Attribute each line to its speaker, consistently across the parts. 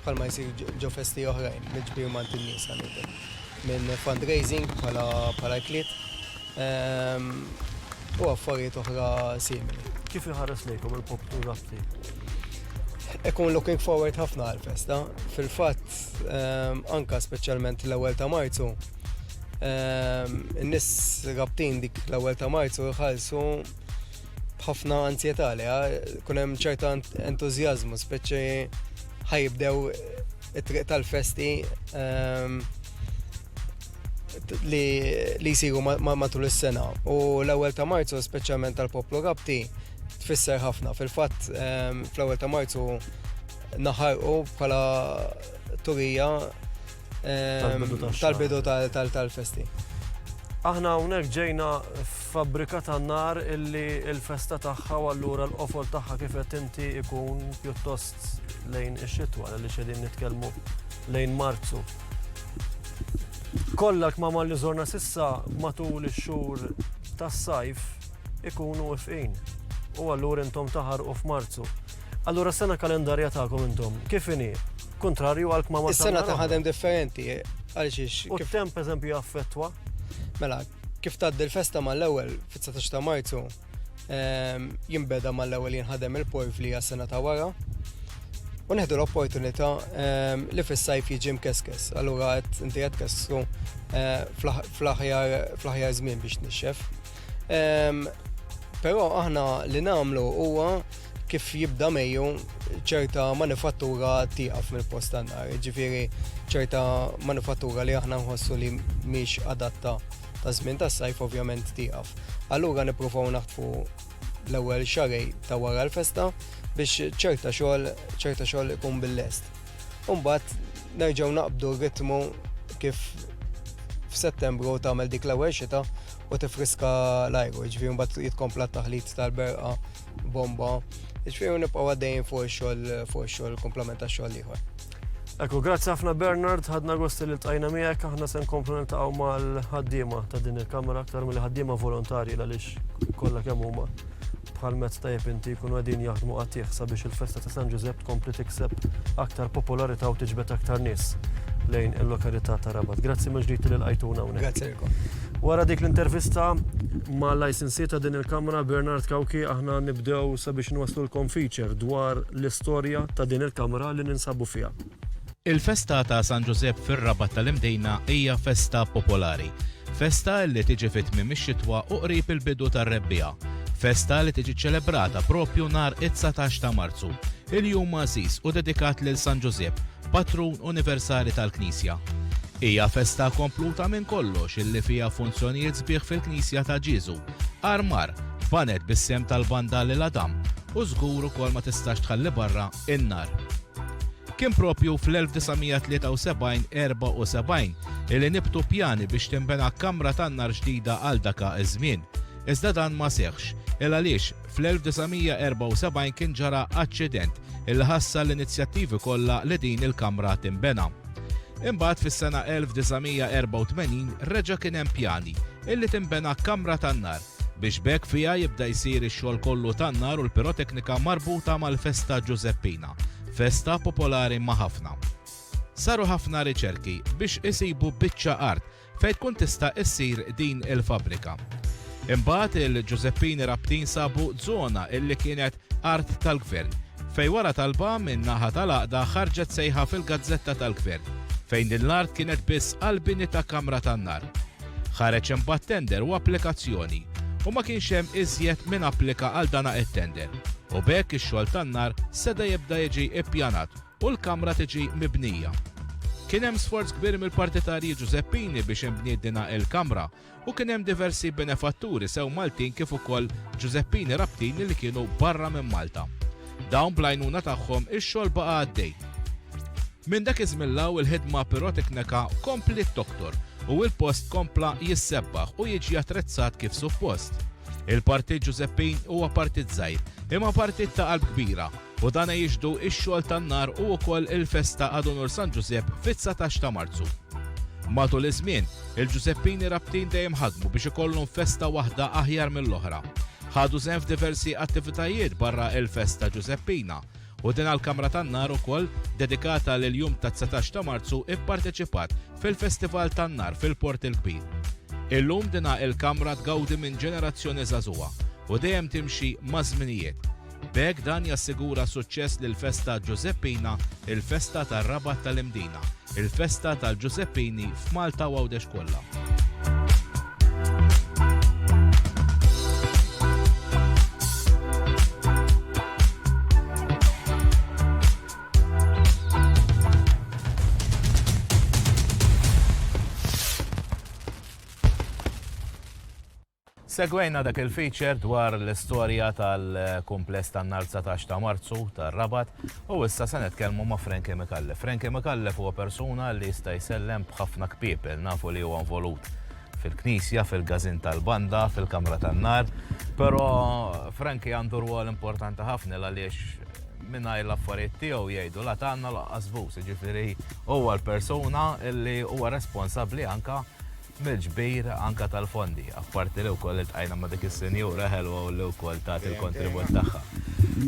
Speaker 1: bħalma jsir ġo festi oħrajn, mill-ġbir mant in-nies ħanietek, minn fundraising bħala ikliet ehm, u affarijiet oħra simili. Kif iħares lejkom
Speaker 2: il-poplu Raffi?
Speaker 1: Ekun looking forward ħafna għal-festa. Fil-fatt, ehm, anka speċjalment l-ewwel ta' Marzu, ehm, in-nies rabtin dik l-ewwel ta' Marzu jħallsu b'ħafna anzjetà li kun hemm ċerta entużjażmu, speċi ħajibdew it-triq tal-festi ehm, li jisiru matul is-sena. U l-ewwel ta' Marzu, speċjalment tal-poplu Rabti, tfisser ħafna. Fil-fatt, ehm, fl-ewwel ta' Marzu naħarqu bħala turija tal-bidu tal-festi.
Speaker 2: Aħna hawnhekk ġejna fabbrika tan-nar illi l-festa tagħha u allura l-qofol tagħha kif qed inti ikun pjuttost lejn ix-xitwa li xedin nitkellmu lejn Marzu. Kollha kmama li żorna sissa matul ix-xhur tas-sajf ikunu ifqin u allura intom taħarqu f'Marzu. Allura sena kalendarja tagħkom intom kif inhi? Kuntrarju għal kmamar tal-ħadem. Is-sena ta' ħadem differenti,
Speaker 1: għal xiex. U temp eżempju
Speaker 2: jaffettwa. Mela,
Speaker 1: kif tgħaddi l-festa mal-ewwel fit-19 ta' Marzu, ehm, jimbeda mal-ewwel jinħadem il-porf li sena ta' wara. U neħdu l-opportunità ehm, li fis-sajf jiġi mkeskes, allura qed inti qed kessru eh, fl-aħjar żmien biex nixxef. Ehm, però aħna li nagħmlu huwa kif jibda Mejju ċerta manifattura tieqaf mill-post tan-nar, ġifieri ċerta manifattura li aħna nħossu li mhix adatta ta' żmien tas-sajf ovvjament tieqaf. Allura nippruvaw naħtfu l-ewwel xarej ta' wara l-festa biex ċerta xogħol ċerta xogħol ikun bil-lest. Umbat nerġgħu naqbdu r-ritmu kif f'Settembru tagħmel dik l-ewwel xita u tifriska l-ajru, ġifieri mbagħad jitkompla t-taħlit tal-berqa bomba, ġifiri u nibqaw għaddejn fuq xol fuq xol komplement ta' xol liħor. Ekku, grazzi
Speaker 2: ħafna Bernard, ħadna gosti li tajna miegħek, aħna se nkomplu niltaqgħu mal-ħaddiema ta' din il-kamera aktar mill ħaddiema volontarji għaliex kollha kemm huma bħal mezz ta' inti jkunu għedin jaħdmu għatih sabiex il-festa ta' San Ġużepp tkompli tikseb aktar popolarità u tiġbed aktar nies lejn il-lokalità ta' Rabat. Grazzi maġdijt li l-għajtuna unek. Grazzi
Speaker 1: Wara dik
Speaker 2: l-intervista ma' Licensee ta' din il-Kamra, Bernard Cauchi, aħna nibdew sabiex nwasslulkom feature dwar l-istorja ta' din il-Kamra li ninsabu fiha. Il-festa
Speaker 3: ta' San Ġużepp fir-Rabat tal-Imdejna hija festa popolari. Festa li tiġi fi tmiem ix-xitwa u qrib il-bidu tar-rebbiegħa. Festa li tiġi ċċelebrata proprju nhar it-dsatax ta' Marzu. Il-jum għażiż u dedikat lil San Ġużepp, patrun universali tal-Knisja. Hija festa kompluta minn kollox illi fiha funzjonijiet sbieħ fil-Knisja ta' Ġieżu, armar, banet bis-sehem tal-Banda lil Adam u żgur ukoll ma tistax tħalli barra n-nar. Kien proprju fl-1973-74 illi nibtu pjani biex tinbena kamra tan-nar ġdida għal daka ż-żmien, iżda dan ma seħħx, il-għaliex, Fl-1974 kien ġara aċċident illi ħassa l-inizjattivi kollha li din il-kamra tinbena. Imbagħad fis-sena 1984 reġa' kien hemm pjani illi tinbena kamra tan-nar biex b'hekk fiha jibda jsir ix-xogħol kollu tan-nar u l-piroteknika marbuta mal-festa Ġużeppina, festa popolari ma' ħafna. Saru ħafna riċerki biex isibu biċċa art Fejn tkun tista' ssir din il-fabbrika. Imbagħad il-Ġużeppini Rabtin sabu żona illi kienet art tal-Gvern fejn wara talba minn naħa tal-Għaqda ħarġet sejħa fil-gazzetta tal-Gvern fejn din l-art kienet biss għall-bini ta' kamra tan-nar. Ħareġ imbagħad tender u applikazzjoni u ma kienx hemm iżjed min applika għal dana it-tender u b'hekk ix-xogħol tan-nar seda jibda jiġi ppjanat u l-kamra tiġi mibnija. Kien hemm sforz kbir mill-partitarji Ġużeppini biex inbniet dina il-kamra u kien hemm diversi benefatturi sew Maltin kif ukoll Ġużeppini Rabtini li kienu barra minn Malta. Dawn bl-għajnuna tagħhom ix-xogħol baqa' għaddej. Minn dak iż-żmien 'l hawn il-ħidma pirotekneka kompliet toktor u l-post kompla jissebbaħ u jiġi attrezzat kif suppost. Il-Partit Ġużeppin huwa partit żgħir, imma partit ta' qalb kbira u dan jixhdu x-xogħol tan-nar u wkoll il-festa għad unur San Ġużepp fit-dsatax ta' Marzu. Matul iż-żmien, il-Ġużeppini Rabtin dejjem ħadmu biex ikollhom festa waħda aħjar mill-oħra. Ħadu sehem f'diversi attivitajiet barra il-festa Ġużeppina u din għall-kamra tan-nar ukoll dedikata lill-jum tad-dsatax ta' Marzu pparteċipat fil-festival tan-nar fil-Port il-Kbir. Illum din il-kamra tgawdi minn ġenerazzjoni żagħżugħa u dejjem timxi maż-żminijiet. B'hekk dan jassigura suċċess lill-festa Ġużeppina, il-festa tar-Rabat tal-Imdina, il-festa tal-Ġużeppini f'Malta u Għawdex kollha. Segwejna dak il-feature dwar l-istorja tal-kumpless tan-nhar dsatax ta' Marzu tar-Rabat u issa se nitkellmu ma' Frankie Micallef. Frankie Micallef huwa persuna li jista' jsellem b'ħafna kpiepel. Nafu li huwa involut fil-Knisja, fil-Gazin tal-Banda, fil-Kamra tan-Nar. Però Frankie għandu rwol importanti ħafna l-għaliex mingħajr l-affarijiet tiegħu jgħidu la tgħanna u laqqas bus. Jiġifieri huwa l-persuna li huwa responsabbli anke mill-ġbir anke tal-fondi. Apparti li wkoll iltqajna ma' dik is-sinjura ħelwa u li wkoll tat il-kontribut tagħha.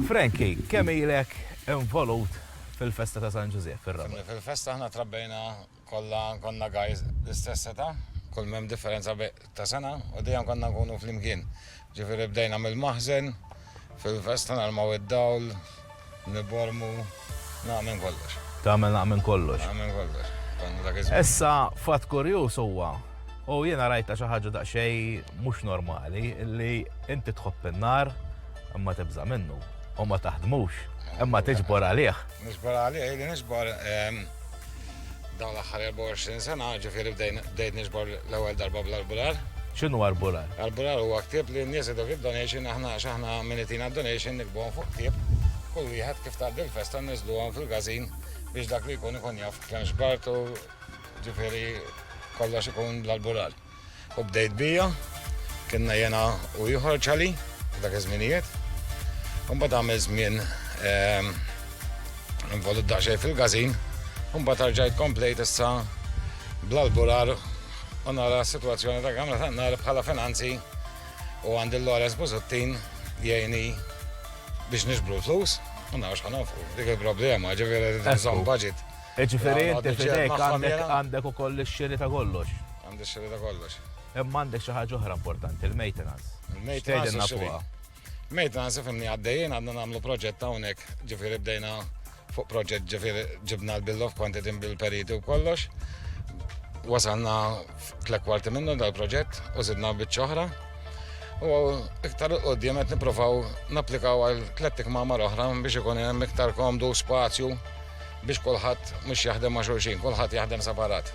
Speaker 3: Frankie, kemm ilek involut fil-festa ta' San Ġużiepp fir-Rabat? Fil-festa aħna trabbejna
Speaker 4: kollha konna guys l-istess età, kull m'hemm differenza ta' sena u dejjem konna nkunu flimkien. Ġifieri bdejna mill-maħżen, Fil-festa nalmaw id-dawl, nibbormu, naqgħa minn kollox. Tagħmel naqgħa minn kollox.
Speaker 3: Naqgħa minn kollox.
Speaker 4: Konna dak iż-żmien. Issa fatt
Speaker 3: kurjuż huwa, u jiena rajtha xi ħaġa daqsxejn mhux normali, li inti tħobb in-nar imma tibża' minnu u ma taħdmux, imma tiġbor għalih. Niġbor għalih, ili
Speaker 4: niġbor. Dawn l-aħħar 24 sena, ġifieri bdejt niġbor l-ewwel darba bl-arbular. X'inhu arbular?
Speaker 3: Arbular huwa ktieb
Speaker 4: li n-nies idok id-donation aħna għax aħna min itina d-donation nikbuhom fuq ktieb. Kull wieħed kif tgħaddi l-festa nniżluhom fil-gazin biex dak li jkun ikun jaf kemm xbart u ġifieri kollox ikun bl-arbular. U bdejt bija, kienna jena u ieħor ċali, dak iż-żminijiet. Mbagħad għamel żmien ehm, involut daqsxejn fil-gazin, mbagħad tarġajt komplejt issa bl-albular u nara s-sitwazzjoni ta' kamra ta' nar bħala finanzi u għandi l-Lores Buzuttin jgħini biex nixbru l-flus u narax ħanofqu. Dik il-problema, ġifieri li budget. Jiġifieri inti
Speaker 3: f'idejk għandek ukoll ix-xiri ta' kollox. Għandi x-xiri ta' kollox.
Speaker 4: Imma għandek xi ħaġa
Speaker 3: oħra importanti, il-maintenance. Il-maintenance.
Speaker 4: Maintenance ifimni għaddejjin għandna nagħmlu proġett hawnhekk, ġifieri bdejna fuq proġett ġifieri ġibna l-bill of quantity bil-periti u kollox. Wasalna tlek kwarti minnu dal-proġett u zidna biċċa oħra. U iktar qudiem qed nipprovaw napplikaw għal tlettik mamar oħra biex ikun hemm iktar komdu spazju biex kulħadd mhux jaħdem ma' xulxin, kulħadd jaħdem separat.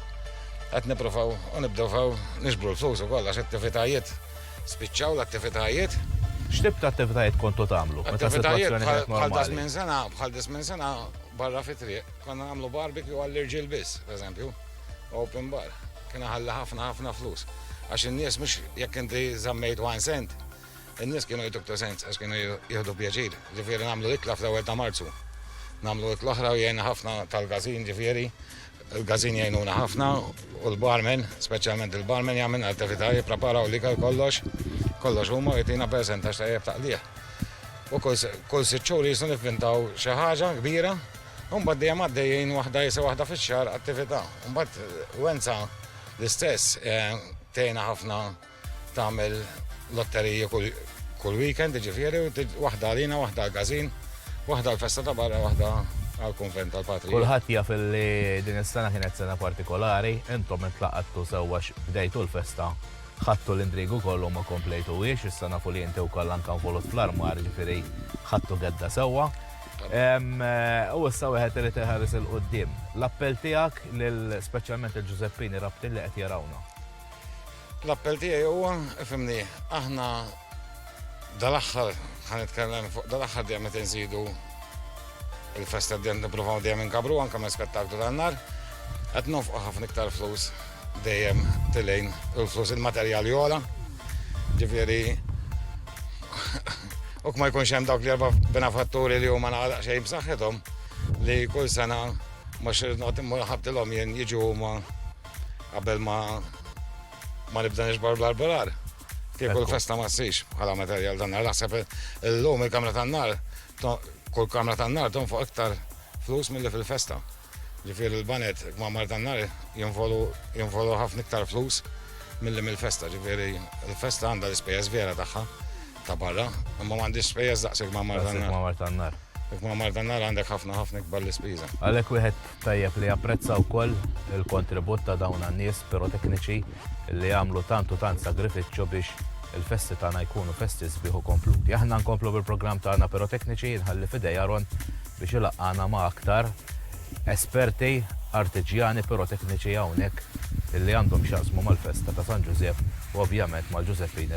Speaker 4: Qed nippruvaw u nibdew nixbru l-flus ukoll għax attivitajiet spiċċaw l-attivitajiet. X'tip ta'
Speaker 3: attivitajiet kontu tagħmlu? Attivitajiet
Speaker 4: bħal das minn sena, bħal dis minn sena barra fit-triq, konna nagħmlu barbecue għall-irġiel biss, pereżempju, open bar. Kien ħalli ħafna ħafna flus. Għax in-nies mhux jekk inti żammejt one cent, In-nies kienu jgħidu iktar sens għax kienu jieħdu pjaċir, ġifieri nagħmlu ikla fl-ewwel ta' Marzu. Nagħmlu ikla oħra u jgħinna ħafna tal-gażin ġifieri il-gażin jgħinuna ħafna u l-barmen, speċjalment il-barmen jagħmel attività jippreparaw l-ikel kollox, kollox huma u jtina percentax tajjeb taqlih. U kull sitt xhur jisnu nivvintaw xi ħaġa kbira, u mbagħad dejjem għaddejjin waħda jisa waħda fix-xahar attività. Mbagħad Wenza l-istess eh, tgħinha ħafna Tagħmel lotteriji kull weekend, jiġifieri, waħda għalina, waħda għall-każin, waħda għall-festa ta' barra, waħda għall-kunvent tal-Patri. Kulħadd jaf li
Speaker 3: din is-sena kienet sena partikolari, intom intlaqattu sewwa għax bdejtu l-festa, ħadtu l-indriegu kollu u ma komplejtuhiex, issa nafu li inti wkoll anke involut fl-armar, jiġifieri ħadtu gedda sewwa. U issa wieħed irid iħares 'il quddiem. L-appell tiegħek lil speċjalment il-Ġużeppini Rabtin li qed jarawna.
Speaker 4: L-appell tiegħi huwa, ifimni, aħna dal-aħħar ħan nitkellem fuq dal-aħħar dejjem qed inżidu il-festa dejjem nippruvaw dejjem inkabru anke ma' spettaklu tan-nar. Qed nofqu ħafna iktar flus dejjem tilejn il-flus il-materjali ola. Ġifieri u ma jkunx hemm dawk li erba' benefatturi li huma naqra xejn b'saħħithom li kull sena mhux noqgħod immur ħabtilhom jien jiġu huma qabel ma ma nibda nixbar bl-arbolar. Kieku l-festa ma ssix bħala materjal dan nar naħseb l-lum il-kamra tan-nar kull kamra tan-nar tonfoq iktar flus milli fil-festa. Ġifier il-banet ma mar tan-nar jinvolu ħafna iktar flus milli mill-festa. Ġifieri il-festa għandha l-ispejjeż vera tagħha. ta' barra, imma m'għandix spejjeż daqshekk ma' mar tan-nar. Ma' mar tan-nar. Jekk ma' mar tan-nar għandek ħafna ħafna ikbar l-ispiża. Għalhekk wieħed
Speaker 3: tajjeb li japprezza wkoll il-kontribut ta' dawn għan-nies pirotekniċi li jagħmlu tant u tant sagrifiċċju biex il-festi tagħna jkunu festi sbieħ u kompluti. Aħna nkomplu bil-programm tagħna pirotekniċi nħalli fidej Aron biex ilaqqana ma' aktar esperti artiġjani pirotekniċi hawnhekk illi għandhom x'jaqsmu mal-festa ta' San Ġużepp u ovvjament mal-Ġużeppini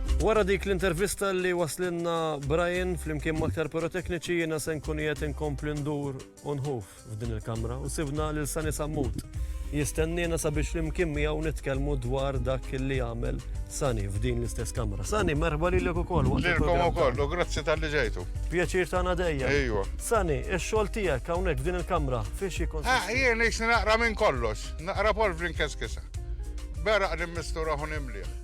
Speaker 2: Wara dik l-intervista li waslinna Brian flimkien maktar pirotekniċi jiena se nkun qiegħed inkompli ndur u nħuf f'din il-kamra u sibna lil Sani Sammut. Jistenniena sabiex flimkien miegħu nitkellmu dwar dak li għamel Sani f'din l-istess kamra. Sani, merħba lilek ukoll. Lilkom ukoll, u
Speaker 5: grazzi tal-li ġejtu. Pjaċir tagħna dejja.
Speaker 2: Ejwa. Sani,
Speaker 5: ix-xogħol
Speaker 2: tiegħek hawnhekk f'din il-kamra fiex jikun. Ah, jien naqra minn
Speaker 5: kollox, naqra Paul Brinkeskisa. Beraq li mistura ħun imliħ.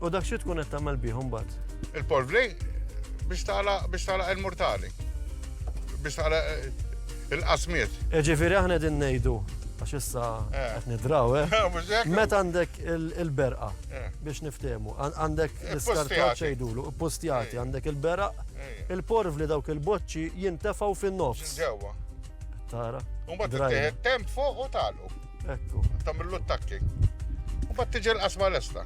Speaker 5: U dak xi tkun qed
Speaker 2: tagħmel bih imbagħad? Il-polvri
Speaker 5: biex tara biex tara il-mortali. Biex tara eh, il-qasmiet. E ġifieri aħna din
Speaker 2: ngħidu għax issa eh. qed nidraw, eh? Meta għandek il-berqa biex niftehmu, għandek l-iskartat xejdulu, postjati, għandek il-beraq, il-porv li dawk il-boċċi jintefgħu fin-nofs. Ġewwa.
Speaker 5: Tara.
Speaker 2: Umbat
Speaker 5: temp fuq u talu. Ekku. Tamillu
Speaker 2: t-takki.
Speaker 5: U bat tiġi l-qasma l-esta.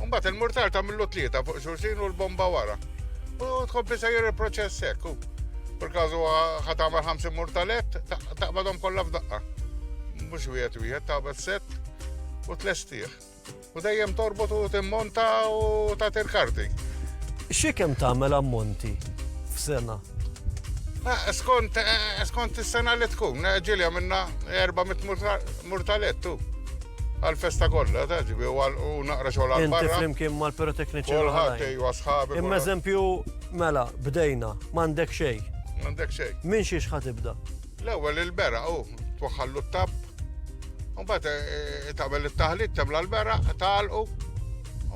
Speaker 5: Un bat il-murtar tamillu tlieta fuq xurxin u l-bomba wara. U tkompli sejjer il-proċess ekku. Per kazu ħatamal 50 murtalet, taqbadhom kollha f'daqqa. Mhux wieħed wieħed taqbad set u tlestih. U dejjem torbot u timmonta u tagħti l-karti. Xi kemm
Speaker 2: tagħmel ammonti f'sena? Ah, skont
Speaker 5: eh, skont is-sena li tkun, eh, ġilja minna 400 murtalet tu. Għal-festa kollha ta' ġibi u naqra xogħol għal barra. Inti flimkien mal-pirotekniċi.
Speaker 2: Kulħadd ejwa
Speaker 5: sħabi. Imma eżempju,
Speaker 2: mela, bdejna, m'għandek xejn. M'għandek xejn.
Speaker 5: Min xiex ħatibda?
Speaker 2: L-ewwel il-beraq
Speaker 5: hu twaħħallu t-tapp, mbagħad eh, eh, tagħmel it-taħlit temla l-beraq, tagħalqu,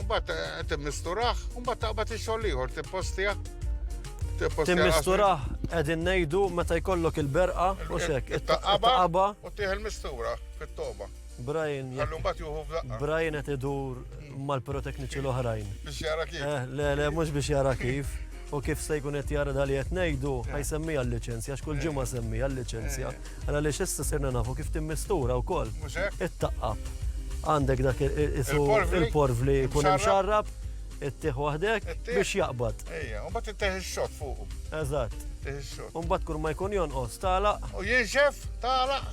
Speaker 5: mbagħad eh, timmisturaħ, mbagħad taqbad ix-xogħol ieħor tippostija. Timmisturaħ
Speaker 2: qegħdin ngħidu meta jkollok il-berqa u xek. It-taqaba u
Speaker 5: tieħ il-mistura fit-toba. Brian jekk. Għallu
Speaker 2: mbagħad juhu f'daqqa. Brian qed idur mal-pirotekniċi l-oħrajn. Biex jara
Speaker 5: kif. Eh, le, le, mhux biex
Speaker 2: jara kif. U kif se jkun qed jara dali qed ngħidu, eh. ħajsemmi għal-liċenzja, x'kull eh. ġimgħa semmi għal-liċenzja. Għala li x'issa sirna nafu kif timmistura wkoll. It-taqqab. Għandek dak il-porvli jkun hemm xarrab, ittieħ waħdek biex jaqbad. Ejja, u mbagħad ittieħ
Speaker 5: ix-xott fuq. Eżatt. Ittieħ
Speaker 2: ix-xott. U mbagħad
Speaker 5: kull ma jkun
Speaker 2: jonqos, tagħlaq. U jinxef,
Speaker 5: tagħlaq.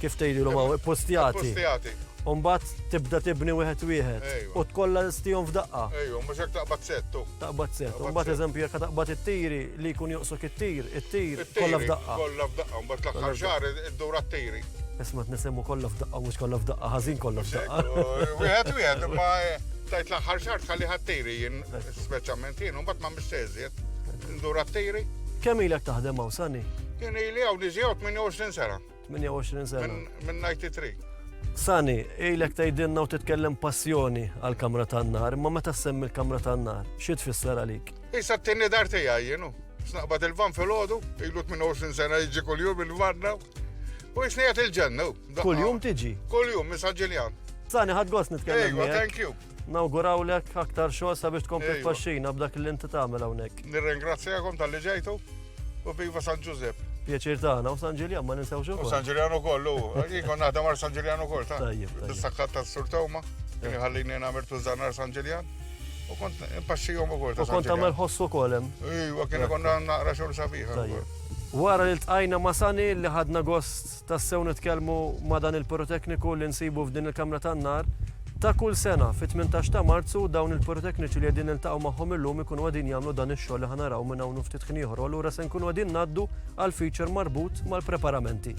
Speaker 5: Kif
Speaker 2: tgħidilhom hawn, ippustjati. Ippustjati. U
Speaker 5: mbagħad tibda
Speaker 2: tibni wieħed wieħed. U tkollha stihom f'daqqa. Ejju, mhux hekk taqbad
Speaker 5: settu. Taqbad settu. U mbagħad
Speaker 2: eżempju jekk taqbad it-tiri li jkun joqsok it-tir, it-tir kollha f'daqqa. Kollha f'daqqa, mbagħad
Speaker 5: l-aħħar xahar iddur għat-tiri. Isma' tnisemmu
Speaker 2: kollha f'daqqa mhux kollha f'daqqa, ħażin kollha f'daqqa. Wieħed wieħed, imma
Speaker 5: tajt l-aħħar xahar tħalli ħat-tiri jien. Speċjalment jien u mbagħad m'għamilx xejn iżjed. Indur għat-tiri. Kemm ilek taħdem
Speaker 2: hawn Sani? Jien ili
Speaker 5: hawn niġi
Speaker 2: hawn
Speaker 5: 28 sena. 28 sena.
Speaker 2: Minn
Speaker 5: 93.
Speaker 2: Sani, ilek tgħidilna u titkellem passjoni għal kamra tan-nar, imma meta semmi l-kamra tan-nar, xi tfisser għalik? Issa t-tieni dar
Speaker 5: tiegħi jienu. Snaqbad il-van fil-ħodu, ilu 28 sena jiġi kuljum il-vanna. U jisnijat il-ġennu. Kuljum tiġi?
Speaker 2: Kuljum, minn San Ġiljan.
Speaker 5: Sani, ħad gost
Speaker 2: nitkellem. Ejwa, thank you. Nawgurawlek aktar xogħol sabiex tkompli tfaxxina b'dak li
Speaker 5: inti
Speaker 2: tagħmel hawnhekk. Nirringrazzjakom tal-li
Speaker 5: ġejtu u viva San Ġużepp. Pjaċir tagħna u San
Speaker 2: Ġiljan ma ninsewx ukoll. San Ġiljan ukoll u
Speaker 5: jkun naħdem għal San Ġiljan ukoll ta' bis-sakkat tas-Sur
Speaker 2: Tewma,
Speaker 5: kien iħallini nagħmel tużanar San Ġiljan. U kont impaxxihom ukoll ta' Kont tagħmel ħossu ukoll hemm.
Speaker 2: Iwa kien ikun
Speaker 5: naqra xogħol sabiħ. Wara
Speaker 2: li tqajna ma' Sani li ħadna gost Tassew nitkellmu ma' dan il-pirotekniku li nsibu f'din il-kamra tan-nar. Ta' kull sena, fit-tmintax ta' Marzu, dawn il-pirotekniċi li qegħdin niltaqgħu magħhom illum ikunu qegħdin jagħmlu dan ix-xogħol li ħa naraw minn hawn u ftit ħin ieħor u allura se nkunu qegħdin ngħaddu għall-feature marbut mal-preparamenti.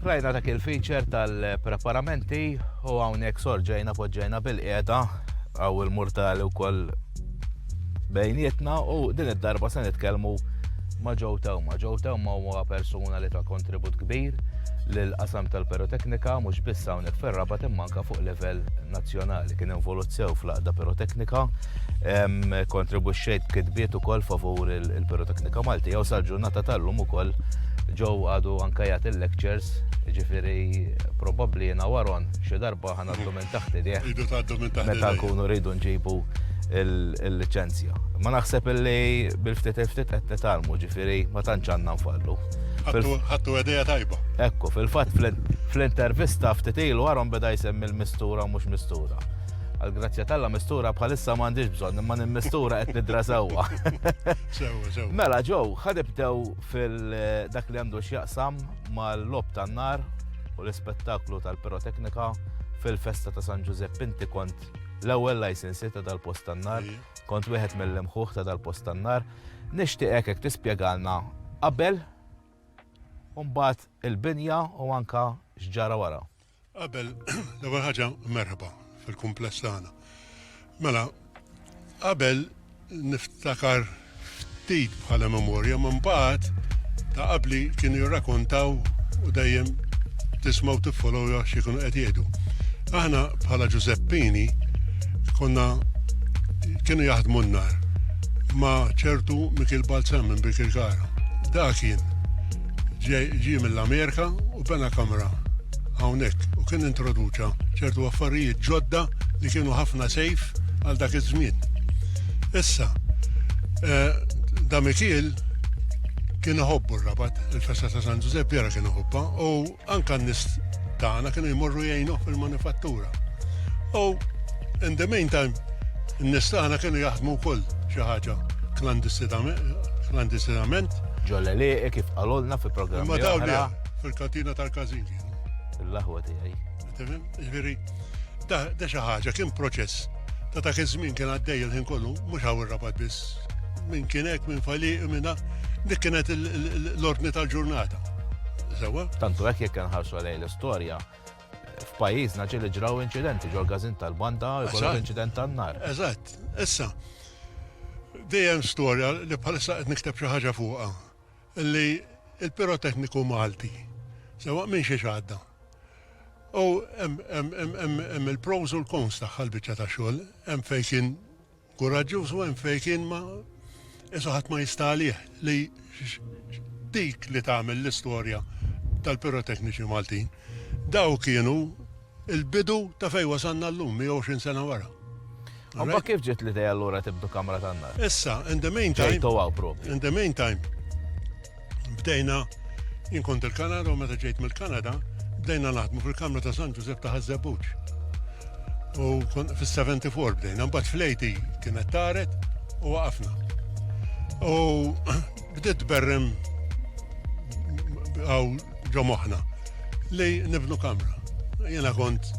Speaker 3: Rajna dak il-feature tal-preparamenti u hawnhekk sorġejna poġġejna bil-qiegħda għaw il-murtali wkoll bejnietna u din id-darba se nitkellmu ma' Joe Tewma. Joe Tewma huwa persuna li ta' kontribut kbir lil qasam tal-piroteknika mhux biss hawnhekk fir-rabat imma anke fuq livell nazzjonali. Kien involut sew fl-aqda piroteknika kontribuxxejt kitbiet ukoll favur il-piroteknika Malti, jew sal-ġurnata tal-lum ukoll ġew għadu anka jagħti lectures ġifiri probabli jena waron xi darba ħana għaddu minn taħt idejh. Idu għaddu minn taħt. Meta
Speaker 6: nkunu rridu nġibu
Speaker 3: il-licenzja. Ma naħseb li bil-ftit il-ftit qed nitalmu ġifiri ma tantx għandna nfallu. Ħattu
Speaker 6: għedeja tajba. Ekku, fil-fat
Speaker 3: fl-intervista ftitilu għarom beda jsemmi l-mistura mux mistura. Għal-grazzja tal-la mistura bħalissa m'għandix bżonn, imma nimmistura qed nidra sewwa.
Speaker 6: Mela ġew,
Speaker 3: ħadibdew fil-dak li għandu x'jaqsam mal-lob tan-nar u l-ispettaklu tal-piroteknika fil-festa ta' San Ġużepp inti kont l-ewwel license ta' dal-post tan-nar, kont wieħed mill-imħuħ ta' dal-post tan-nar. Nixtieqek hekk tispjegalna qabel u mbagħad il-binja u anka x'ġara wara. Qabel,
Speaker 6: l-ewwel ħaġa merħba fil-kumpless tagħna. Mela, qabel niftakar ftit bħala memorja minn bad ta' qabli kienu jirrakontaw u dejjem tismaw tiffolow xi kienu qed jgħidu. Aħna bħala Ġużeppini konna kienu jaħdmu n-nar ma ċertu Mikil Balzam minn Bikil Kara. Da kien Ġie mill-Amerika u bena kamra hawnhekk u kien introduċa ċertu affarijiet ġodda li kienu ħafna sejf għal dak iż-żmien. Issa, eh, da Mikiel kien iħobbu r-rabat, il-festa ta' San Ġużepp vera kien iħobba u Anke n-nies tagħna kienu jmorru jgħinuh fil-manifattura. U in the meantime, n-nies tagħna kienu jaħdmu wkoll xi ħaġa klandistinament. Ġo l-għelieqi kif
Speaker 3: qalulna fi programmi oħra. Imma dawn le,
Speaker 6: fil-kantina tal-każin kienu. L-aħwa
Speaker 3: tiegħi. Ġifieri,
Speaker 6: da xi ħaġa kien proċess ta' dak iż-żmien kien għaddej il-ħin kollu, mhux hawn ir-rabat biss. Min kien hekk, min faliq, minna, dik kienet l-ordni tal-ġurnata. Sewa? Tantu hekk jekk
Speaker 3: nħarsu lejn l-istorja, f'pajjiżna ġieli ġraw inċidenti ġol gazin tal-banda jkollok
Speaker 6: inċident
Speaker 3: tan-nar. Eżatt. Issa, dejjem
Speaker 6: storja li bħalissa qed nikteb xi ħaġa fuqha. li l-pirotekniku Malti, sewwa minn xiex għadda, u hemm il-pros u l-cons tagħha l-biċċa ta' xogħol, hemm fejn kien kuraġġuż u hemm fejn kien ma qisu ħadd ma jista' għalih, li dik li tagħmel l-istorja tal-pirotekniċi Maltin, dawk kienu, Il-bidu ta' fejn wasalna llum 120 sena wara. Imma kif
Speaker 3: ġiet l-idea allura tibdu kamra tan-nar? Issa, in the mean
Speaker 6: time. Ġejtu hawn proprju. In the mean time, bdejna, jien kont il-Kanada u meta ġejt mill-Kanada, bdejna naħdmu fil-kamra ta' San Ġużepp ta' Ħaż-Żebbuġ. U fis-74 bdejna, imbagħad fl-80 kienet taret u waqafna. U Bdiet tberrem għaw ġo moħħna li nibnu kamra. Jiena kont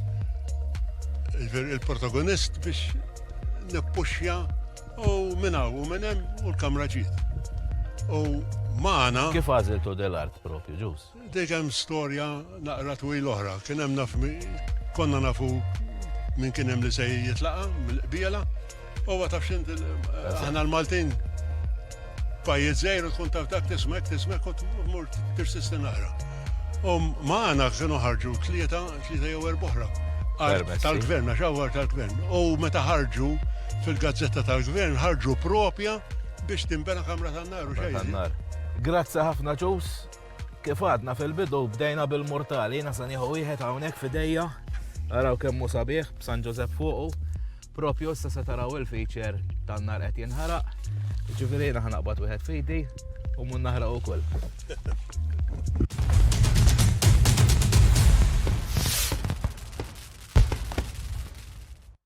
Speaker 6: il-protagonist biex nippuxja u minna u minnem u l-kamra ġiet. U maħna. Kif għaziltu
Speaker 3: del-art propju ġus? Dik hemm storja
Speaker 6: naqra twila oħra. Kien hemm naf konna nafu min kien hemm li se jitlaqa' mill-qbiela. Huwa taf x'int aħna l-Maltin pajjiż żgħir tkun taf dak tismek tismek u tmur tirsisti naqra. U magħna kienu ħarġu tlieta tlieta jew erboħra. Tal-gvern, għax għawar tal-gvern. U meta ħarġu fil-gazzetta tal-gvern ħarġu propja biex timbena kamra tan-nar u xejn. Grazzi ħafna
Speaker 3: ġus. Kif għadna fil-bidu bdejna bil-murtali, jiena se nieħu wieħed hawnhekk f'idejja. Araw kemm hu sabiħ b'San Ġosep fuqu. Propju issa se taraw il-feature tan-nar qed jinħaraq. Ġifieri jiena ħanaqbad wieħed fidi u mun naħraq ukoll.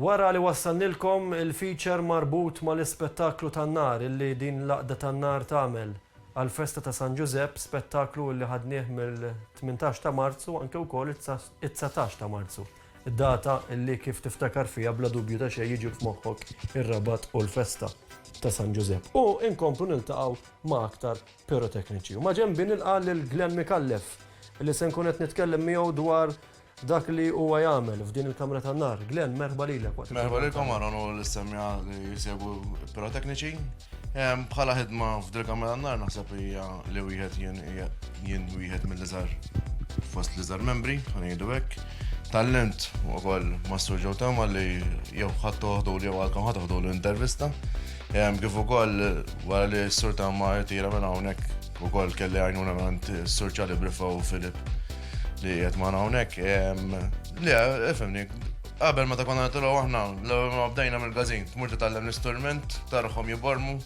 Speaker 2: Wara li wassalnilkom il-feature marbut mal-ispettaklu tan-nar illi din l-Għaqda tan-Nar tagħmel għall-festa ta' San Ġużepp, spettaklu illi ħadnieh mill-tmintax ta' Marzu anke wkoll it-dsatax ta' Marzu, data illi kif tiftakar fiha bla dubju ta' xejn jiġu f'moħħok ir-Rabat u l-festa ta' San Ġużepp. U inkomplu niltaqgħu ma' aktar pirotekniċi. U maġenbi nilqa' lil Glenn Micallef li se nkun qed nitkellem miegħu dwar dak li huwa jagħmel f'din il-kamra tan-nar. Glenn, merħba lilek waqt il-ħidma. Merħba lilkom għal hawn u
Speaker 7: l-istemmiegħa li jsegwu pirotekniċi. Bħala ħidma f'din il-kamra tan-nar naħseb li hija li wieħed jien jien wieħed mill-iżgħar fost l-iżgħar membri, ħa ngħidu hekk. Tgħallimt ukoll mas-Sur Joe Thelma li jew ħadd toħdulu jew għalkemm ħa toħdulu intervista. Kif ukoll wara li s-Sur Tamma irtira minn hawnhekk, ukoll kelli għajnuna minn s-Sur Ċali Brifa u Filip li qed ma' hawnhekk. Le, ifhimni, qabel meta konna nitilgħu aħna, l-ewwel ma bdejna mill-gazin, tmur titgħallem l-istrument, tarahom jibormu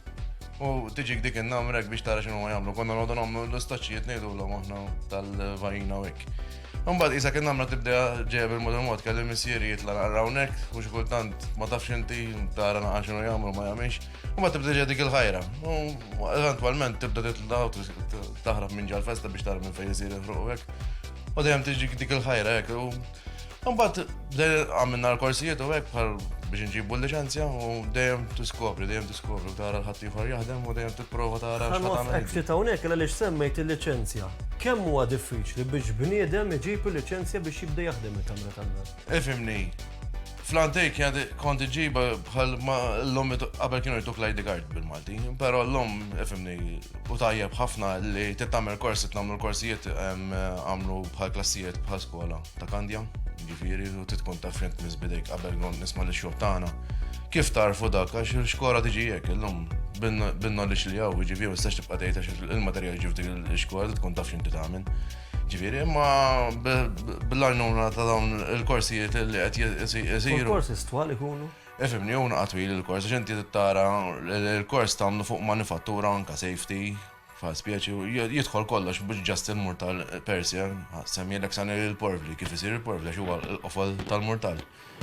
Speaker 7: u tiġik dik in-namrek biex tara x'inhuma jagħmlu. Konna noqogħdu nagħmlu l-istoċċijiet ngħidulhom aħna tal-vajina u hekk. Imbagħad qisha kien għamla tibda ġejja bil-mod il-mod kelli missieri jitla' naqra hawnhekk u xi kultant ma tafx inti tara naqra x'inhu jagħmlu ma jagħmilx. Imbagħad tibda ġejja dik il-ħajra. U eventwalment tibda titla' taħrab minn ġal festa biex tara minn fejn isir il-ħruq hekk. U dejjem tiġi dik il-ħajra hekk. Imbagħad għamilna l-korsijiet u hekk bħal biex inġibu l-liċenzja u dejjem tiskopri, dejjem Tkorru tara l-ħaddieħor jaħdem u dejjem tipprova tara x'ħa tagħmel. Ħa ftit hawnhekk għaliex
Speaker 2: semmejt il-liċenzja. Kemm huwa diffiċli biex bniedem iġib il-liċenzja biex jibda jaħdem il-kamra tan-nar? Ifhimni,
Speaker 7: Flantej kien kont iġiba bħal l-lum qabel kienu jtuk l-ID card bil-Malti, pero l-lum ifimni u tajjeb ħafna li tittamel korsi, tnamlu l-korsijiet għamlu bħal klassijiet bħal skola. ta' Kandja, jiġifieri u trid tkun taf fejn tmiss bidejk qabel kont nisma' lix-xogħol tagħna. Kif tarfu dak għax il-xkola tiġi hekk illum bin-knowledge li hawn, jiġifieri ma tistax tibqa' tgħid għax il-materjal ġi f'dik il-xkola trid tkun taf x'inti tagħmel. Ġifieri imma bl-għajnuna ta' dawn il-korsijiet li qed isiru. Il-korsi stwal ikunu?
Speaker 2: Ifhimni, hu naqgħad
Speaker 7: twil il-kors, għax inti tara l-kors tagħmlu fuq manifattura anke safety, Fa' spieċi, jidħol kollox biex ġast il-murtal Persia, semmilek sa' nil il-porvli, kif isir il-porvli, għax huwa l-qofol tal-murtal,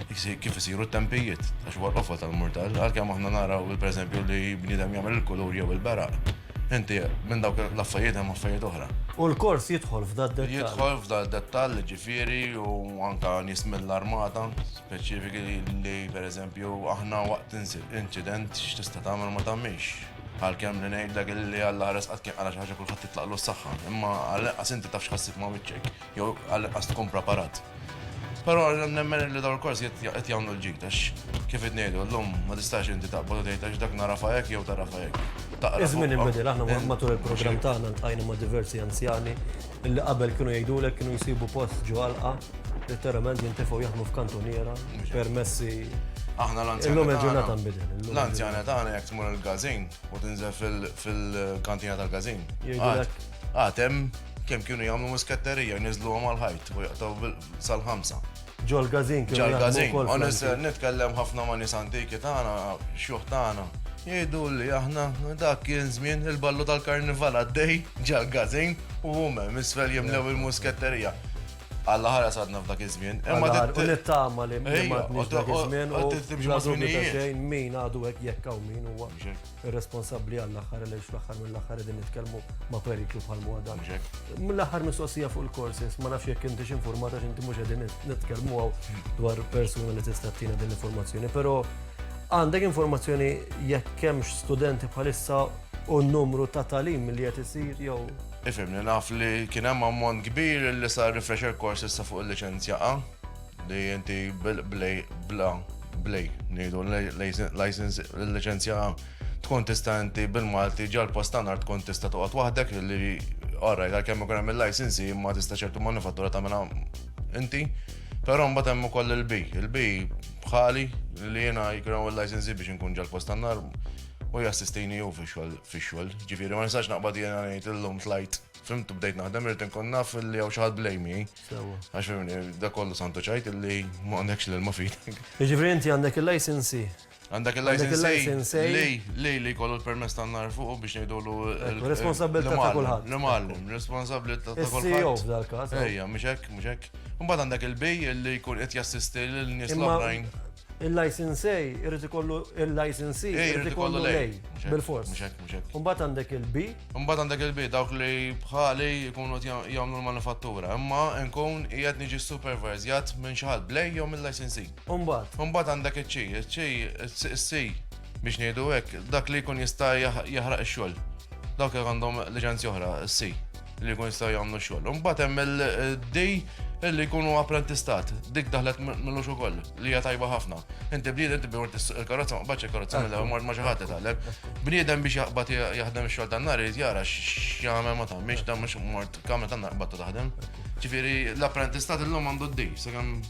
Speaker 7: kif isiru t-tempijiet, għax huwa l-qofol tal-murtal, għalkemm aħna naraw, per eżempju, li bniedem jagħmel il-kulur jew il-beraq, inti minn dawk l-affajiet hemm affajiet oħra. U l-kors jidħol
Speaker 2: f'da d-dettall. Jidħol f'da d-dettall,
Speaker 7: ġifieri, u anke nies mill-armata, speċifiki li, per eżempju, aħna waqt inċident x'tista' tagħmel ma tagħmilx. Għalkemm li ngħidlek illi Alla ħares qatt kien qala xi ħaġa kulħadd titlaqlu s-saħħa, imma għall-inqas inti taf x'ħassib ma' wiċċek, jew għall-inqas tkun preparat. Però nemmen illi dawn il-kors qed jagħmlu l-ġid għax kif qed ngħidu llum ma tistax inti taqbad u tgħid għax dak narafha hekk jew tarafha hekk. Iż-żmien inbidel,
Speaker 2: aħna matul il-programm tagħna ltqajna ma' diversi anzjani Illi qabel kienu jgħidulek kienu jsibu post ġo għalqa, letteralment jintifgħu jaħdmu f'kantuniera, permessi. Aħna
Speaker 7: l-anzjani.
Speaker 2: L-anzjani tagħna jekk
Speaker 7: tmur il-gazin u tinżel fil-kantina tal-gazin. Għad hemm kemm kienu jagħmlu musketterija, niżlu għal ħajt u jaqtaw sal-ħamsa. Ġol-gazin,
Speaker 2: ġol-gazin. Onest,
Speaker 7: nitkellem ħafna ma' nis antiki tagħna, xjuħ tagħna. Jgħidu li aħna dak kien żmien il-ballu tal-karnival għaddej ġal-gazin u huma misfel jimlew il-musketterija. Alla ħara sadna f'dak iż-żmien. Imma nittama
Speaker 2: li ma tnix dak iż-żmien u timxi ma' żminijiet. Min għadu hekk jekk hawn min huwa. irresponsabbli għall-aħħar għaliex fl-aħħar mill-aħħar qegħdin nitkellmu ma' periklu bħal huwa dan. Mill-aħħar mistoqsija fuq il-courses, ma nafx jekk intix informata x'inti mhux qegħdin nitkellmu għaw dwar persuna li tista' tina din l-informazzjoni, però għandek informazzjoni jekk hemmx studenti bħalissa u n-numru ta' talim li qed isir jew Ifimni, naf
Speaker 7: li kien hemm ammont kbir li sar refresher courses sa fuq il-liċenzja A. Li inti blej, bla, blej, ngħidu license, il-liċenzja tkun tista' inti bil-Malti ġal post ta' nar tkun tista' toqgħod waħdek li orrajt għalkemm ikun hemm il-licensi imma tista' ċertu manifattura tagħmilha inti. Però mbagħad hemm ukoll il-bi. Il-bi bħali li jiena jkun il-licensi biex inkun ġal post ta' nar u jassistini hu fix-xogħol. Ġifieri ma nistax naqbad jiena ngħid illum tlajt fimtu bdejt naħdem irid inkun naf li hawn xi ħadd blejmi. Għax da kollu santu ċajt li ma għandekx l-ilma fidek. Ġifri inti għandek
Speaker 2: il-licensi. Għandek
Speaker 7: il-licensi. Lej, lej li kollu l-permess ta' nar fuq biex nejdu l Responsabilità ta'
Speaker 2: kullħat. L-mallim, responsabilità
Speaker 7: ta' kullħat. Ejja, e dal-kas. Ejja,
Speaker 2: muxek, muxek.
Speaker 7: Mbagħad għandek il-bej li jkun qed jassisti l-nies l-oħrajn. Il-licensee
Speaker 2: irid ikollu il-licensee Eh, irid irid ikollu ikollu lei. lei. Mhux hekk, Bil-fors. mhux hekk, mhux hekk. Imbagħad
Speaker 7: għandek il-bi.
Speaker 2: Imbagħad għandek il-bi
Speaker 7: dawk li bħali jkunu qed jagħm- jagħmlu l-manifattura, imma nkun qiegħed niġi supervizjat minn xi ħadd b'lei jew mill-licensee. Imbagħad. Imbagħad għandek iċ-ċi, iċ-ċi, iċ- iċ-ċi biex ngħidu hekk, dak li jkun jista' jaħ- jaħraq ix-xogħol. Dawk li għandhom liċenzja oħra, iċ-ċi. li jkun jistgħu jagħmlu xogħol. Imbagħad hemm il-dej li jkunu apprentistat. Dik daħlet millux ukoll li hija tajba ħafna. Inti bniedem tibbi mort il-karozza ma qbadx il-karozza mill mort ma xi ħadd itgħallem. Bniedem biex jaqbad jaħdem ix-xogħol tan-nar irid jara x'jagħmel ma tagħmilx dan mhux mort kamra tan-nar qbadtu taħdem. Ġifieri l-apprentistat illum għandu d-dej, sakemm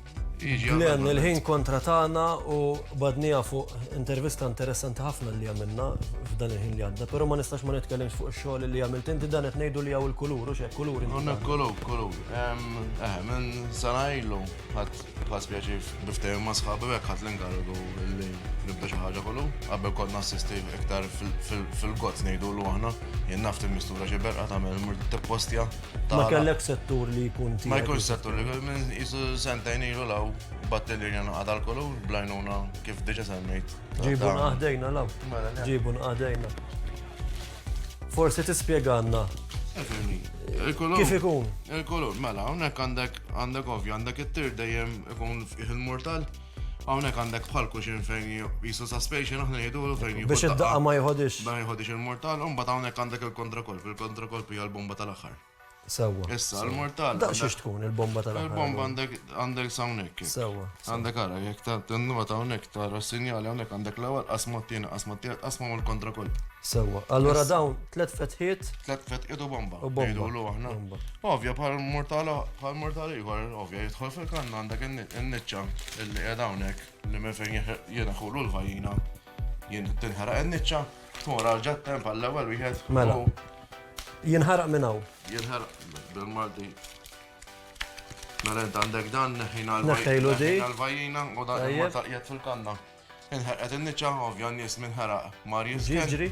Speaker 7: Glenn, il-ħin kontra
Speaker 2: tagħna u badnija fuq intervista interessanti ħafna li għamilna f'dan il-ħin li għadda, però ma nistax ma nitkellimx fuq ix-xogħol li għamilt inti dan qed ngħidu li hawn il-kulur u x'hekk kulur. Għandna kulur, kulur.
Speaker 7: Eh, minn sena ilu ħadd ħadd pjaċir biftehim ma' sħabi hekk ħadd l-inkarigu li nibda xi ħaġa kollu. Qabel kont nassisti iktar fil-gozz ngħidulu aħna, jien nafti mistura xi berqa tagħmel tippostja. Ma kellek
Speaker 2: settur li jkun tiegħek. Ma jkunx settur li
Speaker 7: minn isu sentajn ilu law battelli jena għadal kollu blajnuna kif diġa semmejt. Ġibu naħdejna
Speaker 2: law. Mela, Ġibu naħdejna. Forsi tispjeganna. Kif ikun? Il-kolur, mela,
Speaker 7: hawnhekk għandek għandek ovvju, għandek it-tir dejjem ikun il-mortal. Hawnhekk għandek bħal kuxin fejn jisu suspension aħna jgħidulu fejn jieħu. Biex id-daqqa ma jħodix.
Speaker 2: Ma jħodix il-mortal,
Speaker 7: un bat hawnhekk għandek il-kontrakolp, il-kontrakolp hija l-bomba tal-aħħar. Sewa. Issa,
Speaker 2: l-mortal.
Speaker 7: Da xiex tkun il-bomba
Speaker 2: tal Il-bomba għandek għandek
Speaker 7: sawnek. Sewa. Għandek għara,
Speaker 2: jek ta'
Speaker 7: t-nuwa ta' unek ta' rassinjali għandek għandek l-ewel qasmattin, qasmattin, qasma mal kontra kolb. Sewa. Allora
Speaker 2: dawn, tlet fetħiet. Tlet fetħiet u bomba.
Speaker 7: U bomba. Idu l-għahna. Ovja, bħal mortala, bħal mortala iħor, ovja, jitħol fil-kanna għandek n In-niċċa illi qiegħda hawnhekk li minn fejn jiena ħulu l-vajjina jien tinħaraq in-niċċa tmur għal ġattem għall-ewwel wieħed. Mela.
Speaker 2: Jinħaraq minn hawn. Jinħaraq
Speaker 7: bil-Malti. Mela int għandek dan neħħina l-vajjina u dan ma taqjed fil-kanna. Inħerqet in-niċċa, ovvja n-nies min ħeraq mar jiżken. Jiġri.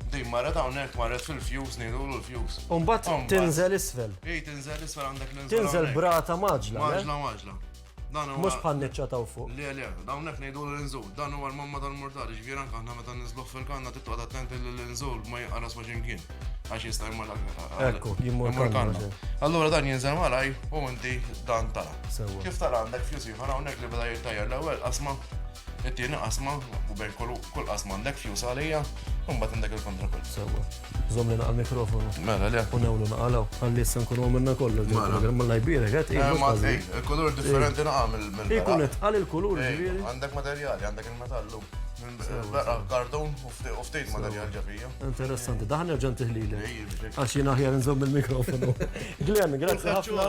Speaker 7: Din
Speaker 2: marret
Speaker 7: hawnhekk, marret fil-fjus, ngħidulu l-fjus. U mbagħad tinżel
Speaker 2: isfel. Hi tinżel isfel għandek
Speaker 7: ninżel. Tinżel b'rata mgħaġġla.
Speaker 2: Mgħaġġla mgħaġġla.
Speaker 7: Dan huwa. Mhux
Speaker 2: bħan-niċċa ta' fuq. Le le, hawnhekk ngħidulu
Speaker 7: l-inżul. Dan huwa l-mamma tal-murtali, ġifieri anke aħna meta ninżluh fil-kanna trid toqgħod attent li l-inżul ma jinqaras ma' xi mkien. għax jista' jmur Ekku, jmur
Speaker 2: kanna. Allura dan jinżel
Speaker 7: malaj u inti dan ta'. Kif tara għandek fjus ieħor hawnhekk li beda jirtajja l-ewwel qasma, it-tieni qasma u bejn kull qasma għandek fjus għalija, u mbagħad għandek il-kontra kull. Sewwa. Żomm
Speaker 2: li naqal mikrofonu. Mela le. U newlu
Speaker 7: naqalaw. Għalli
Speaker 2: issa nkunu minna kollu. Mela. Mela jbirek qed. Eh, ma eh, il-kulur
Speaker 7: differenti naqal mill-mill. Ikun qed għal il-kulur.
Speaker 2: Eh, għandek materjali, għandek
Speaker 7: il-metallu. Kartun u U ftit ma dan jarġa fija. Interessanti, daħ nerġa
Speaker 2: ntiħli li. Għax jien aħjar nżomm il-mikrofonu. Glenn, grazzi ħafna.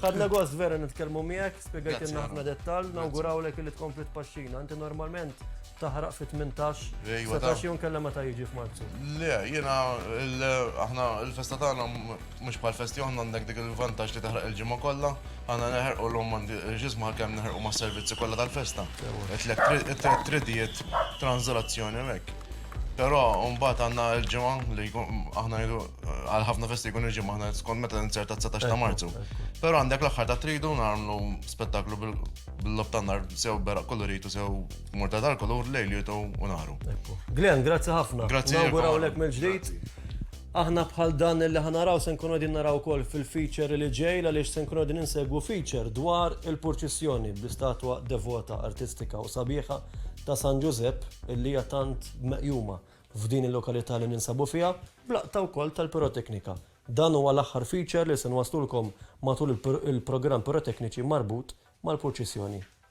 Speaker 2: Ħadna gost vera nitkellmu miegħek, spjegajtilna ħafna dettall, nawgurawlek li tkompli tpaxxina. Inti normalment taħraq fit 18 setax jum kellha meta jiġi f'Marzu. Le, jiena
Speaker 7: aħna l-festa tagħna Mhux bħal festi oħra għandek dik il-vantaġġ li taħraq il-ġimgħa kollha. Aħna neħerqu llum ma nfiqirx isma' għalkemm neħerqu mas-servizzi kollha tal-festa. It-tliet tridijiet, tranżolazzjoni u hekk. Però mbagħad għandna l-ġimgħa li aħna ngħidu għal ħafna festi jkun il-ġimgħa aħna skont meta ninsert ta' 19 ta' Marzu. Però għandek l-aħħar ta' tridu nagħmlu spettaklu bil-logħob tan-nar sew beraq kollu ritu sew murta tal-kulur lejlitu u naru. Glenn, grazzi
Speaker 2: ħafna. Grazzi. Nawgurawlek mill-ġdid. Aħna bħal dan li ħa naraw se nkunu qegħdin naraw ukoll fil-feature li ġej għaliex se nkunu qegħdin insegwu feature dwar il-purċissjoni bl-istatwa devota artistika u sabiħa ta' San Ġużepp illi hija tant meqjuma f'din il-lokalità li ninsabu fiha b'laqta wkoll tal-piroteknika. Dan huwa l-aħħar feature li se nwaslulkom matul il-programm pirotekniċi marbut mal-purċissjoni.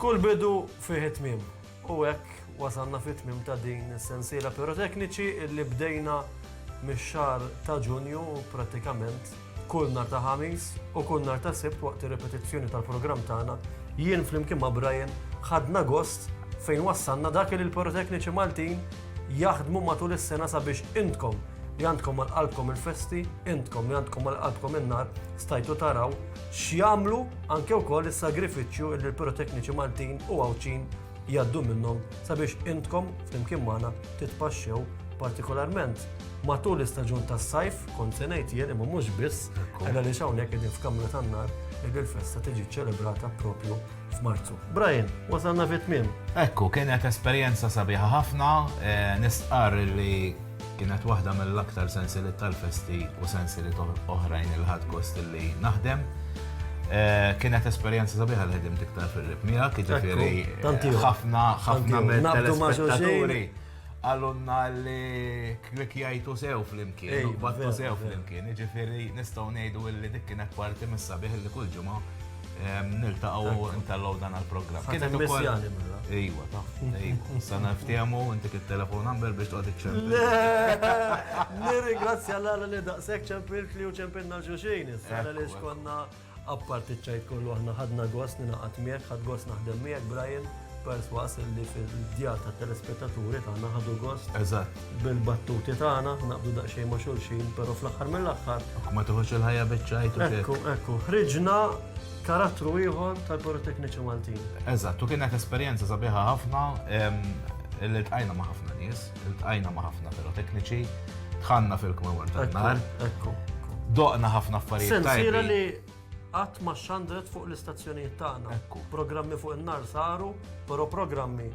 Speaker 2: Kull bidu fih it-tmiem, u hekk wasalna fit-tmiem ta' din is-sensiela pirotekniċi illi bdejna mix-xahar ta' Ġunju prattikament kull nhar ta' Ħamis u kull nhar ta' Sibt waqt ir-ripetizzjoni tal-programm tagħna jien flimkien ma' Brian ħadna gost fejn wassalna dak li l-pirotekniċi Maltin jaħdmu matul is-sena sabiex intkom li għandkom għal qalbkom il-festi, intkom li għandkom għal qalbkom in-nar stajtu taraw x'jagħmlu anke wkoll is-sagrifiċċju li l-pirotekniċi Maltin u Għawdxin jgħaddu minnhom sabiex intkom flimkien magħna titpaxxew partikolarment matul l-istaġun tas-sajf, kont se ngħid jien imma mhux biss, għaliex hawnhekk qegħdin f'kamra tan-nar li l-festa tiġi ċċelebrata propju f'Marzu. Brian, wasalna fit-tmiem. Ekku, kienet
Speaker 3: esperjenza sabiħa ħafna, eh, nistqarr li Kienet waħda mill-aktar sensieliet tal-festi u sensieliet oħrajn li ħadt gost li naħdem. Eh, kienet esperjenza sabiħa li ħedim tiktar fil-rib miegħek, jiġifieri ħafna ħafna mill-telespettaturi għallunna li klikjajtu sew fl-imkien, battu sew fl-imkien, jiġifieri nistgħu ngħidu li dik kienet parti mis-sabiħ li kull ġimgħa Niltaqgħu ntellgħu dan għall-programm. Kien hemm ukoll. Mela. Ejwa, ta' ejwa. Sana ftehmu inti kif telefon number biex toqgħod iċċempil. Nirringrazzja
Speaker 2: l-għala li daqshekk ċempilt li u ċempilna xuxin. Issa li xkonna apparti ċajt kollu aħna ħadna gost ninaqat miegħek, ħad gost naħdem miegħek Brian. perswas li fil-djar ta' telespettaturi tagħna ħadu gost. Eżatt. Bil-battuti tagħna, naqbdu daqsxejn ma' xulxin, però fl-aħħar mill-aħħar. Ma toħodx il-ħajja
Speaker 3: biċċajt u Ekku, ekku, ħriġna
Speaker 2: karattru ieħor tal-Porotekniċi Maltin. Eżatt, u kienet
Speaker 3: esperjenza sabiħa ħafna li tqajna ma' ħafna nies, tqajna ma' ħafna pirotekniċi, tħanna fil-kmemor tal-nar. Ekku, ekku.
Speaker 2: Doqna ħafna
Speaker 3: affarijiet. Sensiela li
Speaker 2: Qatt ma xxandret fuq l-istazzjonijiet tagħna. Ekku. Programmi fuq in-nar saru, però programmi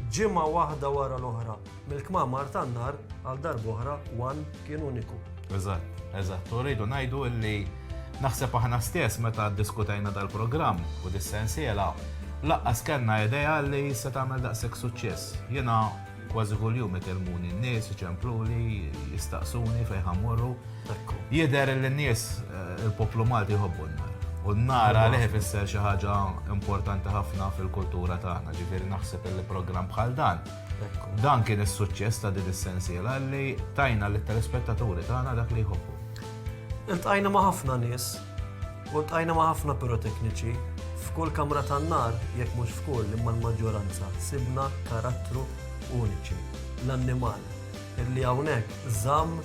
Speaker 2: ġimgħa waħda wara l-oħra mill-kmamar tan-nar għal darb'oħra one kien uniku. Eżatt, eżatt.
Speaker 3: U rridu ngħidu li naħseb aħna stess meta ddiskutejna dal-programm u dis-sensiela, laqqas kellna idea li se tagħmel daqshekk suċċess. Jiena Kważi kuljum ikellmuni n-nies, iċempluli, jistaqsuni fejn ħammorru. Jidher li n-nies eh, il-poplu Malti jħobbu n-nar. U n-nar għalih ifisser xi ħaġa importanti ħafna fil-kultura tagħna, ġifieri naħseb li programm bħal dan. Dan kien is-suċċess ta' din is-sensiela li tajna lit telespettaturi tagħna dak li jħobbu. Iltqajna
Speaker 2: ma' ħafna nies U ltqajna ma' ħafna pirotekniċi. F'kull kamra tan-nar, jekk mhux f'kull imma l-maġġoranza, sibna karattru uniċi, l-annimal, li hawnhekk żamm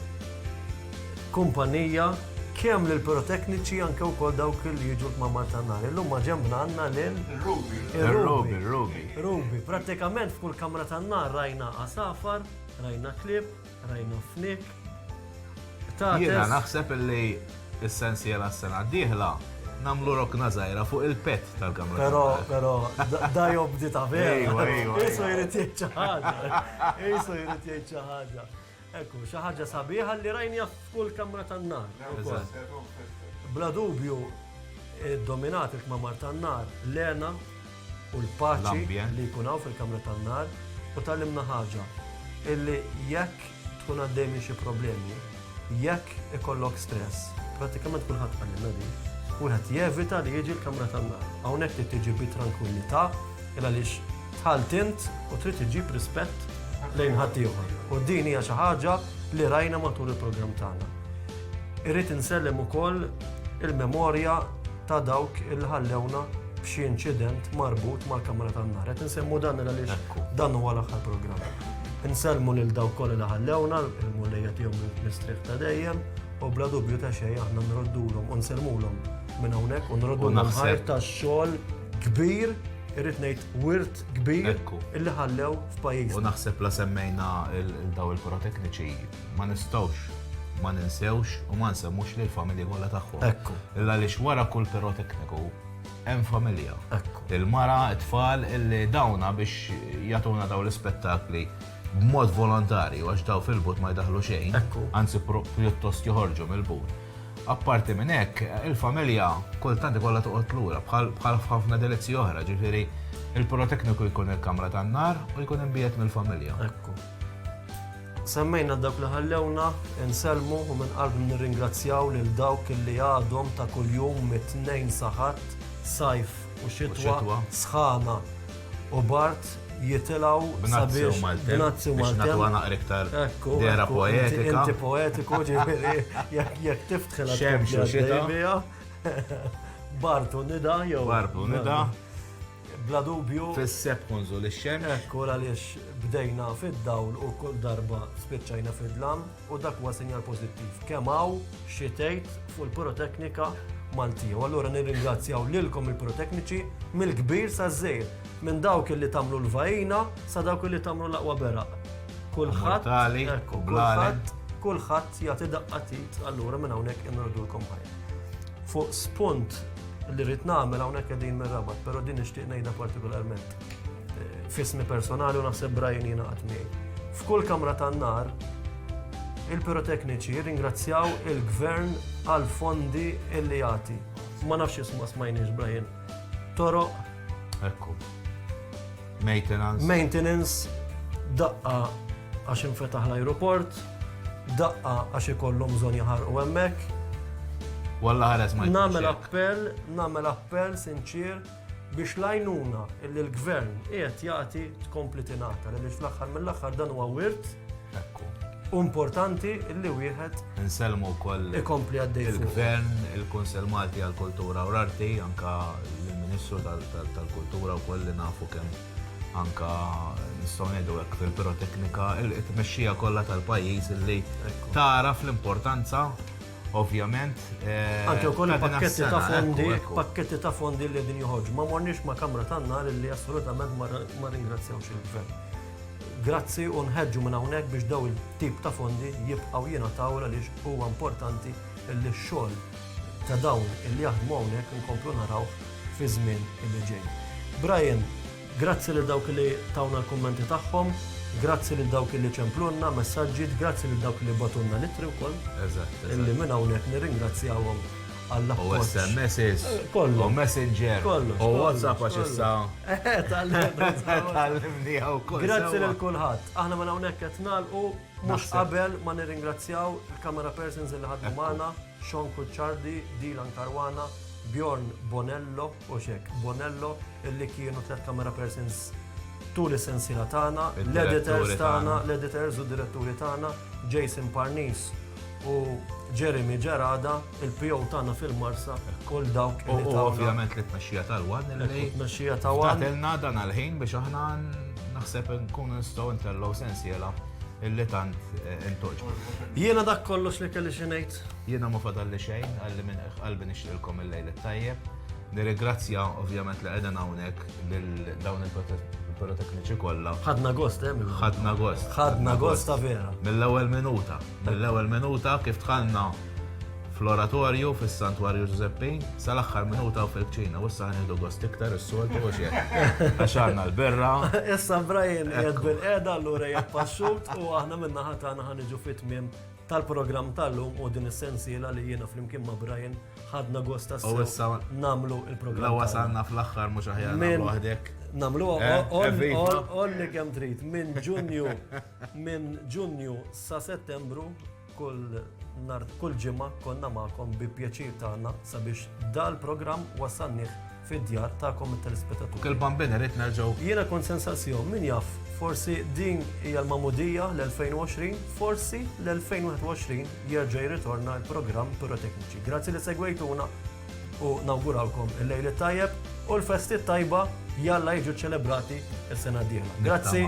Speaker 2: kumpanija kemm lill-pirotekniċi anke wkoll dawk li jiġu l-kmamar tan-nar. Illum maġembna għandna lil. Ir-Ruby. Ir-Ruby, ir-Ruby. Ruby. Prattikament f'kull kamra tan-nar rajna għasafar, rajna klieb, Rajna flik.
Speaker 3: Jiena naħseb li s-sensiela s-sena d-dieħla namlu rokna zaħira fuq il-pet tal-kamra. Pero, pero,
Speaker 2: da jobdi ta' vera. Isu jrid jgħid ħaġa. Isu jrid jgħid ħaġa. Ekku, xi ħaġa sabiħa li rajni f'kull kamra tan-nar. Bla dubju, dominat il-kmamar tan-nar, Lena, u l-paċi li jkun hawn fil-kamra tan-nar u tgħallimna ħaġa, illi jekk tkun għaddej minn xi problemi, jekk ikollok stress, prattikament kulħadd qalilna din, wieħed jevita li jiġi l-kamra tan-nar. Hawnhekk trid tiġi bi trankwillità il għaliex dħalt int u trid iġġib rispett lejn ħaddieħor. U din hija xi ħaġa li rajna matul il-programm tagħna. Irrid insellem ukoll il-memorja ta' dawk li ħallewna f'xi inċident marbut mal-kamra tan-nar. Qed insemmu dan għaliex dan huwa l-aħħar programm. Insellmu lil dawk kollha li ħallewna, il-Mulejja tihom mistrieħ ta' dejjem, u bla dubju ta' xejn aħna nroddulhom u nsellmulhom minn hawnhekk u nroddulhom ħajr ta' xogħol kbir irrid ngħid wirt kbir illi ħallew f'pajjiżna. U naħseb la
Speaker 3: semmejna daw il-porotekniċi ma nistgħux ma ninsewx u ma nsemmux lill-familji kollha tagħhom. Ekku. Illa għaliex wara kull pirotekniku hemm familja. Ekku. Il-mara, it-tfal illi dawna biex jagħtuna daw l-ispettakli b'mod volontarju għax daw fil-but ma jdaħlu xejn. Ekku. Anzi pjuttost joħorġu mill-but. Apparti minn hekk, il-familja kultant ikollha toqgħod lura bħal ħafna delizzi oħra, ġifieri il-pirotekniku jkun il-kamra tan-nar u jkun imbiegħed mill-familja. Ekku. Semmejna
Speaker 2: dawk li ħallewna, insellmu u minn qalbna nirringrazzjaw lil dawk li għadhom ta' kuljum mit-Tnejn sa Ħadd, sajf u xitwa, sħana u bard jitilgħu sabiex b'nazzi u maltemp. Ekku,
Speaker 3: inti poetiku
Speaker 2: ġifieri jekk tiftħilha tkompli għaddej
Speaker 3: biha. Bard
Speaker 2: u nida jew. Bard u nida.
Speaker 3: Bla
Speaker 2: dubju. Fis-Sepp Kunżul ix-xemx.
Speaker 3: Hekk hu għaliex
Speaker 2: bdejna fid-dawl u kull darba spiċċajna fid-dlam u dak huwa sinjal pożittiv. Kemm hawn xi tgħid fuq il-piroteknika Maltija. U allura nirringrazzjaw lilkom il-pirotekniċi mill-kbir saż-żgħir, minn dawk illi tagħmlu l-vajina sa dawk illi tagħmlu l-aqwa beraq. Kulħadd kulħadd kulħadd jagħti daqqa tit allura minn hawnhekk inwegħdulkom ħajr. Fuq spunt li rrid nagħmel hawnhekk qegħdin mir-rabat, però din nixtieq ngħidha partikolarment. Eh, fismi personali u naħseb Brian jiena miegħi. F'kull kamra tan-nar, il-pirotekniċi ringrazzjaw il-gvern għal fondi illi jagħti. Ma nafx jisma' smajniex Brian. Toroq. Ekku.
Speaker 3: Maintenance. Maintenance,
Speaker 2: daqqa għax infetaħ l-aeroport, daqqa għax ikollhom bżonn jaħarqu hemmhekk. Walla
Speaker 3: ħares ma Namel appell, namel
Speaker 2: appell sinċir biex lajnuna illi l-gvern qiegħed jagħti tkompli tingħata li fl-aħħar mill-aħħar dan huwa wirt Ekku. U importanti li wieħed. Insellmu wkoll.
Speaker 3: Ikompli għaddej.
Speaker 2: Il-Gvern, il-Kunsell
Speaker 3: Malti għall-Kultura u l-Arti, anka l-Ministru tal-Kultura wkoll li nafu kemm anka nistgħu ngħidu hekk fil-piroteknika, it-tmexxija kollha tal-pajjiż li taraf l-importanza ovvjament. Eh, Anke
Speaker 2: wkoll pakketti ta' fondi, pakketti ta' fondi li din joħorġu. Ma morniex ma' kamra tan-nar li assolutament ma ringrazzjawx il-gvern. Grazzi u nħeġġu minn hawnhekk biex dawn it-tip ta' fondi jibqgħu jingħataw għaliex huwa importanti li x-xogħol ta' dawn li jaħdmu hawnhekk inkomplu narawh fiż-żmien li ġej. Brian, grazzi lil dawk li tawna l-kummenti tagħhom, grazzi lil dawk li ċemplulna messaġġi, grazzi lil dawk li bagħtulna l-ittri wkoll, li minn
Speaker 3: hawnhekk
Speaker 2: nirringrazzjahom. u
Speaker 3: SMS, u Messenger, u WhatsApp għax issa. Grazzi lil kulħadd.
Speaker 2: Aħna ma hawnhekk qed nagħlqu mhux qabel ma nirringrazzjaw il-camera persons li ħadmu magħna, Sean Kuċċardi, Dylan Caruana, Bjorn Bonello, u xek, Bonello, li kienu tliet camera persons tul is-sensiela tagħna, l-editors tagħna, l-editors u d-diretturi tagħna, Jason Parnis u Jeremy Gerada, il-PO tagħna fil-Marsa, kull dawk li tagħna. U ovvjament li
Speaker 3: tmexxija tal-wan li tmexxija ta' wan. Tagħtilna
Speaker 2: dan għal-ħin biex
Speaker 3: aħna naħseb nkun nistgħu ntellgħu sensiela illi tant intoġbu. Jiena dak
Speaker 2: kollox li kelli xi ngħid. Jiena ma fadalli
Speaker 3: xejn, qalli minn qiegħ qalbi nixtieqilkom il-Lejl it-Tajjeb. Nirrigrazzja ovvjament li qegħdin hawnhekk lil dawn il-pirotekniċi kollha. Ħadna gost, eh?
Speaker 2: Ħadna gost.
Speaker 3: Ħadna gost ta' vera.
Speaker 2: Mill-ewwel minuta,
Speaker 3: mill-ewwel minuta kif dħalna fl-oratorju fis-Santwarju Ġużeppi, sal-aħħar minuta u fil-kċina, u issa ħanieħdu gost iktar is-soltu u xejn. Għax għandna l-birra. Issa Brian
Speaker 2: jgħid bil-qeda allura jgħid passut u aħna minna ħatana ħaniġu fit-tmiem tal-programm tal-lum u din is-sensiela li jiena flimkien ma' Brian ħadna gost tas namlu il-programm. Lawa sanna fl-aħħar
Speaker 3: mhux aħjar minn waħdek. Namlu
Speaker 2: olli eh, kemm trid minn Ġunju minn Ġunju sa Settembru kull nar kull ġimgħa konna magħkom bi pjaċir tagħna sabiex dal-programm wasalnih fid-djar tagħkom it-telespetaturi. Dak il-Bambin irrid
Speaker 3: nerġgħu. Jiena kont se nsaqsihom,
Speaker 2: min jaf, forsi din hija l-magħmudija l-2020, forsi l-2021 jerġa' jirritorna l-programm Pirotekniċi. Grazzi li segwejtuna u nawgurawlkom il-Lejl it-Tajjeb u l-Festi t-Tajba jalla jiġu ċċelebrati s-sena d-dieħla. Grazzi.